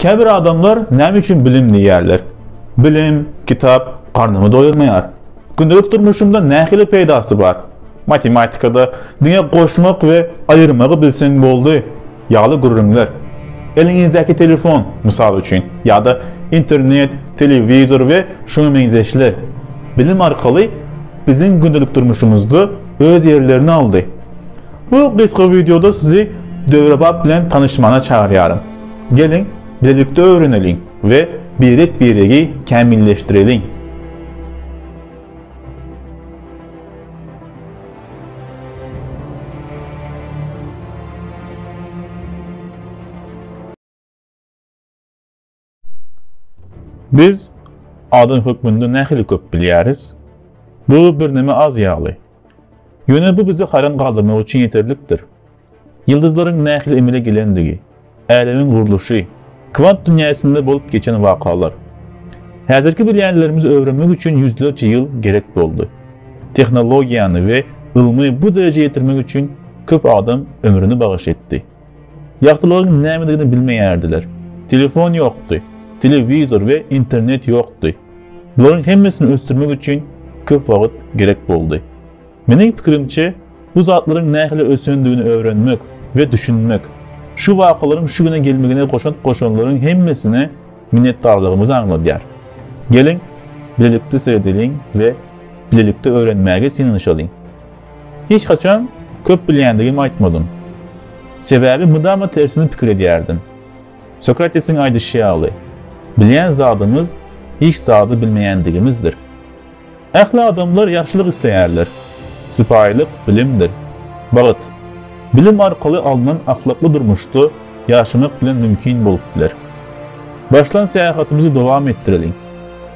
Käbir adamlar näme üçin bilim diýýärler? Bilim, kitap garnymy doýurmaýar. Gündelik durmuşymda nähili peýdasy bar? Matematikada diňe goşmak we aýyrmagy bilseň boldy ýaly gürrüňler. Eliňizdäki telefon, mysal üçin, ýa-da internet, telewizor we şuňa meňzeşler bilim arkaly biziň gündelik durmuşymyzda öz ýerlerini aldy. Bu gysga wideoda sizi döwrebap bilen tanyşmagyna çagyrýaryn. Geliň, bilelikde öwreneliň we birek-biregi kämilleşdireliň! Biz adam hökmünde nähili köp bilýäris? Bu birneme az ýaly. Ýöne bu bizi haýran galdyrmak üçin ýeterlikdir. Ýyldyzlaryň nähili emele gelendigi, älemiň gurluşy, kwant dünýäsinde bolup geçen wakalar. Häzirki bilýänlerimizi öwrenmek üçin ýüzlerçe ýyl gerek boldy. Tehnologiýany we ylmy bu derejä ýetirmek üçin köp adam ömrüni bagyş etdi. Ýagtylygyň nämedigini bilmeýärdiler. Telefon ýokdy, telewizor we internet ýokdy. Bularyň hemmesini ösdürmek üçin köp wagt gerek boldy. Meniň pikirimçe, bu zatlaryň nähili ösendigini öwrenmek we düşünmek, şu wakalaryň şu güne gelmegine goşant goşanlaryň hemmesine minnetdarlygymyzy aňladýar. Geliň, bilelikde seredeliň we bilelikde öwrenmäge synanyşalyň. Hiç haçan köp bilýändigimi aýtmadym. Sebäbi mydama tersini pikir edýärdim. Sokratesiň aýdyşy ýaly, bilýän zadymyz hiç zady bilmeýändigimizdir. Ähli adamlar ýagşylyk isleýärler. Sypaýylyk bilimdir. Bagt, bilim arkaly alnan ahlakly durmuşda ýaşamak bilen mümkin bolup biler. Başlan syýahatymyzy dowam etdireliň.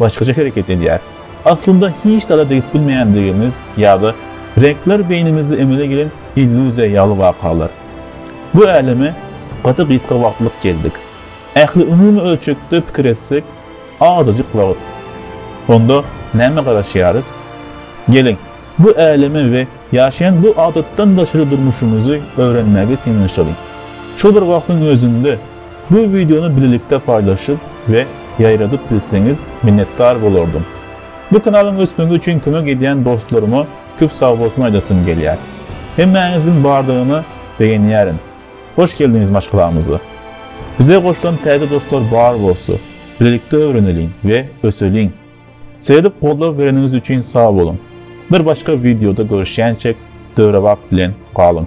başgaça hereket edýär. Aslynda hiç zada degip bilmeýändigimiz ýa-da reňkler beýnimizde emele gelen illýuziýa ýaly wakalar. Bu äleme gaty gysga wagtlyk geldik. Ähli umumy ölçekde pikir etsek, azajyk wagt. Onda nämä garaşýarys? Geliň, bu älemi we ýaşaýan bu adatdan daşary durmuşymyzy öwrenmäge synanyşalyň. Şol bir wagtyň özünde, Bu wideony bilelikde paýlaşyp we ýaýradyp bilseňiz minnetdar bolardym. Bu kanalyň ösmegi üçin kömek edýän dostlaryma köp sagbolsun aýdasym gelýär. Hemmäňiziň bardygyny begenýärin. Hoş geldiňiz maşgalamyza. Bize goşulan täze dostlar bar bolsa, bilelikde öwreneliň we öseliň. Seredip goldaw bereniňiz üçin sag boluň. Bir başga wideoda görüşýänçek döwrebap bilen galyň.